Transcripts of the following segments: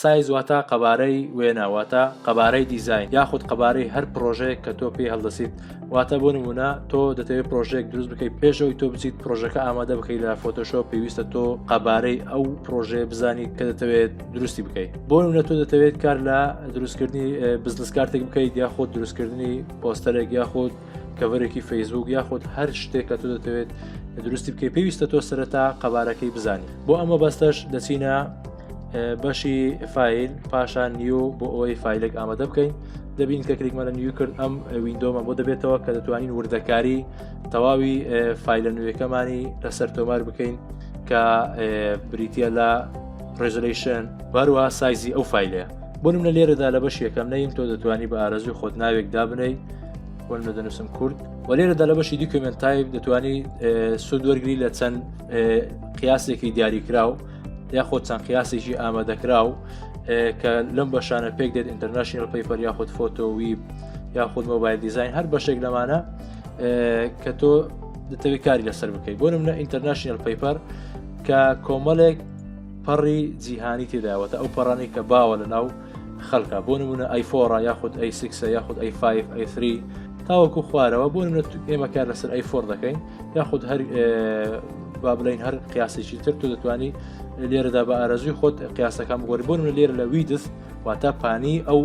سایز واتە قەبارەی وێنە واتە قەبارەی دیزین یاخود قەبارەی هەر پرۆژەیەک کە تۆ پێی هەڵدەسیت واتە بۆ نمونە تۆ دەتەوێت پرۆژێک دروست بکەیت پێشەوەی تۆ بچیت پرۆژەکە ئامادە بکەیت لە فۆتۆشۆ پێویستە تۆ قەبارەی ئەو پرۆژێ بزانیت کە دەتەوێت دروستی بکەیت بۆ نمونە تۆ دەتەوێت کار لە دروستکردنی بزنس کارتێک بکەیت یاخود دروستکردنی پۆستەرێک یاخود کەڤەرێکی فەیسبوک یاخود هەر شتێک کە تۆ دەتەوێت دروستی بکەی پێویستە تۆ سەرەتا قەبارەکەی بزانانی بۆ ئەمە بەستەش دەچینە بەشی فیل پاشان نیو بۆ ئەوەی فیلێک ئامادە بکەین دەبین کە کلیکمانە نیو کرد ئەم وینندۆمە بۆ دەبێتەوە کە دەتوانین وردەکاری تەواوی فیلە نوێەکەمانی لەسەر تۆمار بکەین کە بریتە لە ڕێزلیشن باروا سایزی ئەو فیلەیە بۆنم لە لێرەدا لە بەش یەکەم نەیم تۆ دەتوانانی بە ئارەزوی خۆت ناوێک دابنەی وەل لە دەنووسم کورد و لێرەدا لە بەشی دیکمنت تایب دەتوانانی سود وەرگری لە چەند قیاسێکی دیاریکراو یاخۆ چەند قیاسێکی ئامادەکراو کە لەم بەشانە پێک دێت ئینتەرنشنل پەیپەر یاخود فۆتۆوی یاخود مۆبایل دیزین هەر بەشێک لەمانە کە تۆ دەتەوی کاری لەسەر بکەیت بۆ منە ئینتەرنشنل پەیپەر کە کۆمەڵێک پەڕی جیهانی تێداوەتە ئەو پەڕانی کە باوە لە ناو خەلکە بۆ نمونە ئەیفۆڕە یاخود ئەی سکسە یاخود ئەی 5 ئەی 3 تاوەکو خوارەوە بۆ نمونە ئێمە کار لەسەر ئەی فۆر دەکەین یاخود هەر با بڵین هەر قیاسێکی تر تۆ دەتوانانی لێرەدا بە ئارەزوی خۆت قیاسەکان بگۆری بۆ نمونە لێرە لە ویدس واتە پانی ئەو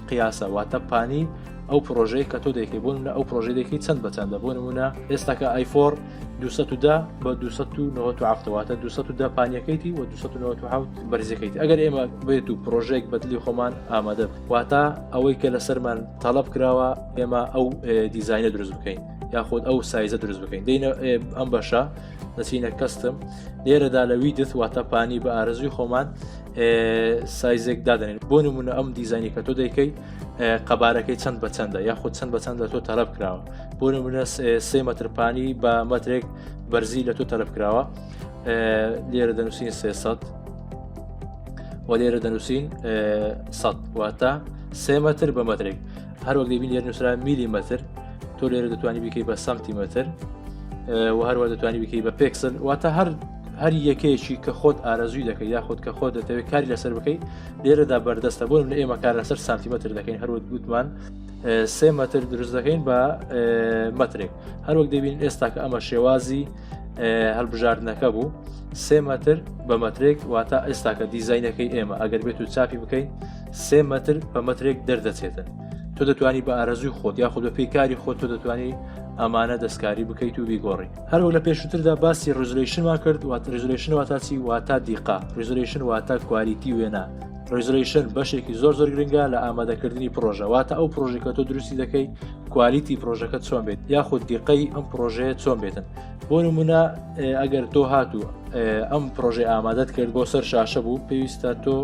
قیاسە واتە پانی ئەو پرۆژەیە کە تۆ دەکەی بۆ منە ئەو پرۆژەیەکی چەند بەچەندە بۆ نمونە ئێستاکە ئایفۆر 210 بە 297 واتە 210 پانیەکەیتی و 297 بەرزەکەیت ئەگەر ئێمە بێت و پرۆژێک بەدلی خۆمان ئامادە واتە ئەوەی کە لەسەرمان تەڵب کراوە ئێمە ئەو دیزینە دروست بکەین یاخود ئەو سایزە دروست بکەین دەینە ئەم بەشە دەچینە کەستم لێرەدا لەوی دەست واتە پانی بە ئارزوی خۆمان سایزێک دادنێن بۆ نمونە ئەم دیزانی کە تۆ دەیکەی قەبارەکەی چەند بە چەندە یاخود چەند بە چەندە تۆ تەرەب کراوە بۆ نمونە سێ مەترپانی بە مەترێک بەرزی لە تۆ تەلب کراوە لێرە دەنووسین سێسەد و لێرە دەنووسین سەد واتە سێ مەتر بە مەترێک هەروەک دەبین لێر نووسرا میلی مەتر تۆ لێرە دەتوانانی بکەی بە سەمتی مەتر و هەروە دەتوانانی بکەی بە پێکسن واتە هەر هەر یەکەیەکی کە خۆت ئارەزوی دەکەی یاخود کە خۆ دەتەوێت کاری لەسەر بکەیت لێرەدا بەردەستە بۆ من ئێمە کار لەسەر سانتیمەتر دەکەین هەروت گوتمان سێ مەتر دروست دەکەین بە مەترێک هەروەک دەبین ئێستا کە ئەمە شێوازی هەلبژاردنەکە بوو سێ مەتر بە مەترێک واتە ئێستا کە دیزینەکەی ئێمە ئەگەر بێت و چاپی بکەین سێ مەتر بە مەترێک دەردەچێتن تۆ دەتوانی بە ئارەزوی خۆت یاخود بە پێی کاری خۆت تۆ دەتوانی ئەمانە دەستکاری بکەیت و بیگۆڕی هەروە لە پێشوتردا باسی ڕزلشنمان کرد وات ڕزلشن واتاچی واتا دیقا ڕزلشن واتە کوالیتی وێنا ڕیزرەیشن بەشێکی زۆر زۆر گرنگە لە ئامادەکردنی پرۆژە واتە ئەو پرۆژێک کە تۆ دروستی دەکەی کوالیتی پرۆژەکە چۆن بێت یاخود دیقەی ئەم پرۆژەیە چۆن بێتن بۆ نمونە ئەگەر تۆ هاتوو ئەم پرۆژێ ئامادەت کرد بۆ سەر شاشە بوو پێویستە تۆ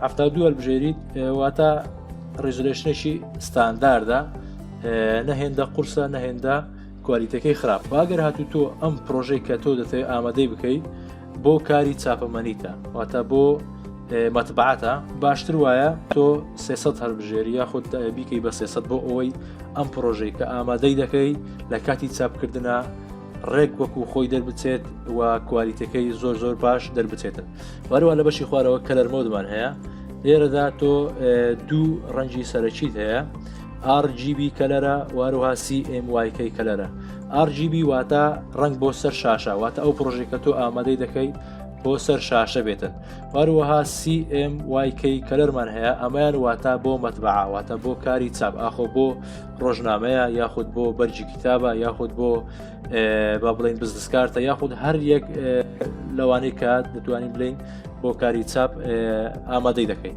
هەفتا دووە بژێریت واتە ڕیزولێشنێکی ستانداردە نەهێندە قورسە نەهێندە کوالیتەکەی خراپ با گەر هاتو تۆ ئەم پرۆژەی کە تۆ دەتەوێت ئامادەی بکەیت بۆ کاری چاپەمەنیتە واتە بۆ مەتبعاتە باشتر وایە تۆ سێسەد هەربژێری یاخود بیکەی بە سێسەد بۆ ئەوەی ئەم پرۆژەی کە ئامادەی دەکەی لە کاتی چاپکردە ڕێک وەکو خۆی دەربچێت و کوالیتەکەی زۆر زۆر باش دەربچێتن وەروە لە بەشی خوارەوە کەلەرمەودمان هەیە لێرەدا تۆ دوو ڕەنجی سەرەکیت هەیە RGB کەلەرە واروها CMYK کەلەرە RGB واتە ڕنگ بۆ سەر شاشە واتە ئەو پرۆژێک کە تۆ ئامادەی دەکەیت بۆ سەر شاشە بێتن واروەها CMYK کەلەرمان هەیە ئەمەیان واتە بۆ مەتبعا واتە بۆ کاری چاپ ئاخۆ بۆ ڕۆژنامەیە یاخود بۆ بەرجی کتابە یاخود بۆ با بڵین بزنسکارتە یاخود هەر یەک لەوانەیە کە دەتوانین بڵین بۆ کاری چاپ ئامادەی دەکەین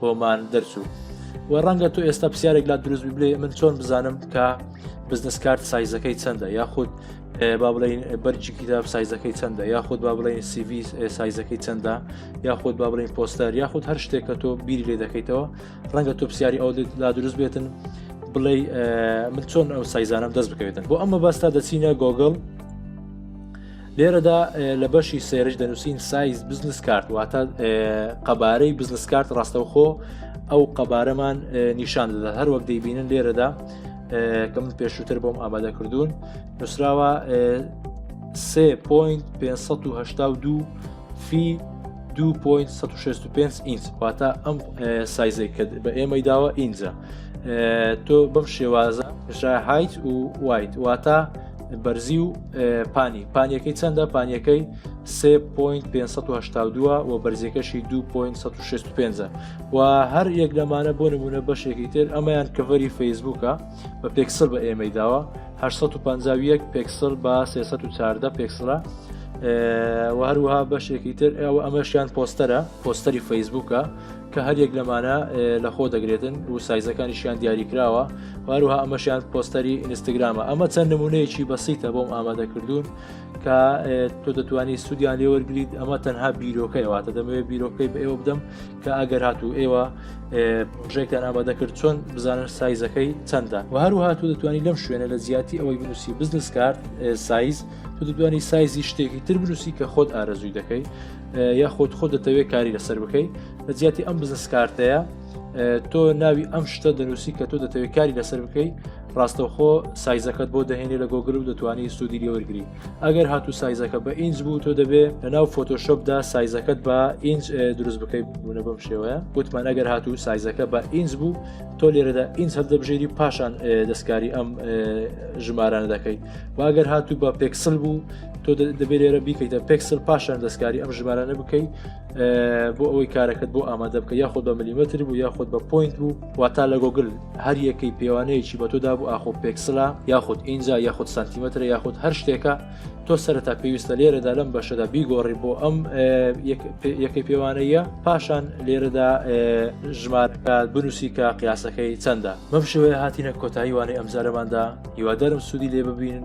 بۆمان دەرچوو و ڕەنگە تۆ ئێستا پرسیارێک لا دروست ببلێ من چۆن بزانم کە بزنس کارت سایزەکەی چەندە یاخود با بڵین بەرجی کتاب سایزەکەی چەندە یاخود با بڵین سیوی سایزەکەی چەندە یاخود با بڵین پۆستەر یاخود هەر شتێک کە تۆ بیری لێ دەکەیتەوە ڕەنگە تۆ پرسیاری ئەو لا دروست بێتن بڵێ من چۆن ئەو سایزانم دەست بکەوێتن بۆ ئەمە باستا دەچینە گۆگل لێرەدا لە بەشی سێرش دەنووسین سایز بزنس کارت واتە قەبارەی بزنس کارت ڕاستەوخۆ ئەو قەبارەمان نیشان دەدا هەر وەک دەیبینن لێرەدا کە من پێشووتر بۆم ئامادە کردوون نووسراوە 3.582 فی 2.65 ئینچ واتە ئەم سایزێک کرد بە ئێمەی داوە ئینجا تۆ بەم شێوازە شای هایت و وایت واتە بەرزی و پانی پانیەکەی چەندە پانیەکەی 3.582 و بەرزیەکەشی 2.65 و هەر یەک لەمانە بۆ نمونە بەشێکی تر ئەمەیان کەڤەری فەیسبووکە بە پێکسل بە ئێمەی داوە 1950 پێکسل بە 314 پێکسلە و هەروها بەشێکی تر ئەو ئەمەشیان پۆستەرە پۆستەری فەیسبووکە کە هەریەک لەمانە لەخۆ دەگرێتن و سایزەکانیشیان دیاریکراوە واروها ئەمەشیان پۆستەری ئینستاگرامە ئەمە چەند نمونەیەکی بەسیتە بۆم ئامادەکردوون کە تۆ دەتوانانی سوودیان لێوەرگیت ئەمە تەنها بیرۆکەی واتە دەمەوێت بیرۆکەی بە ئێوە بدەم کە ئەگەر هاتوو ئێوە پرۆژێکتان ئامادەکرد چۆن بزانن سایزەکەی چەندە و هەروها تۆ دەتوانانی لەم شوێنە لە جیاتی ئەوەی بنووسی بزنس کارت سایز تۆ دەتوانانی سایزی شتێکی تر بنووسی کە خۆت ئارەزووی دەکەی یاخود خۆ دەتەوێت کاری لەسەر بکەیت لە جیاتی ئەم بزنس کارتەیە تۆ ناوی ئەم شتە دەنووسی کە تۆ دەتەوێت کاری لەسەر بکەیت ڕاستەوخۆ سایزەکەت بۆ دەهێنێ لە گۆگل و دەتوانانی سوودی لێوەرگری ئەگەر هاتوو سایزەکە بە ئینج بوو تۆ دەبێ لە ناو فۆتۆشۆپدا سایزەکەت بە ئینج دروست بکەیت بوونە بەم شێوەیە گوتمان ئەگەر هاتوو سایزەکە بە ئینج بوو تۆ لێرەدا ئینج هەبدەبژێری پاشان دەستکاری ئەم ژمارانە دەکەیت واگەر هاتوو بە پێکسل بوو تۆ دەبێت لێرە بیکەیتە پێکسل پاشان دەستکاری ئەم ژمارانە بکەی بۆ ئەوەی کارەکەت بۆ ئامادە بکە یاخود بە ملیمەتر بوو یاخود بە پوینت بوو واتا لە گۆگل هەر یەکەی پێوانەیەکی بە تۆدا بوو ئاخۆ پێکسلا یاخود ئینجا یاخود سانتیمەتر یاخود هەر شتێکە تۆ سەرتا پێویستە لێرەدا لەم بەشەدا بیگۆڕی بۆ ئەم یەکەی پێوانەیە پاشان لێرەدا ژمار بنووسی کە قیاسەکەی چەندە مەم شێوەیە هاتیینە کۆتایی وانەی ئەمزارەماندا هیوادارم سوودی لێ ببین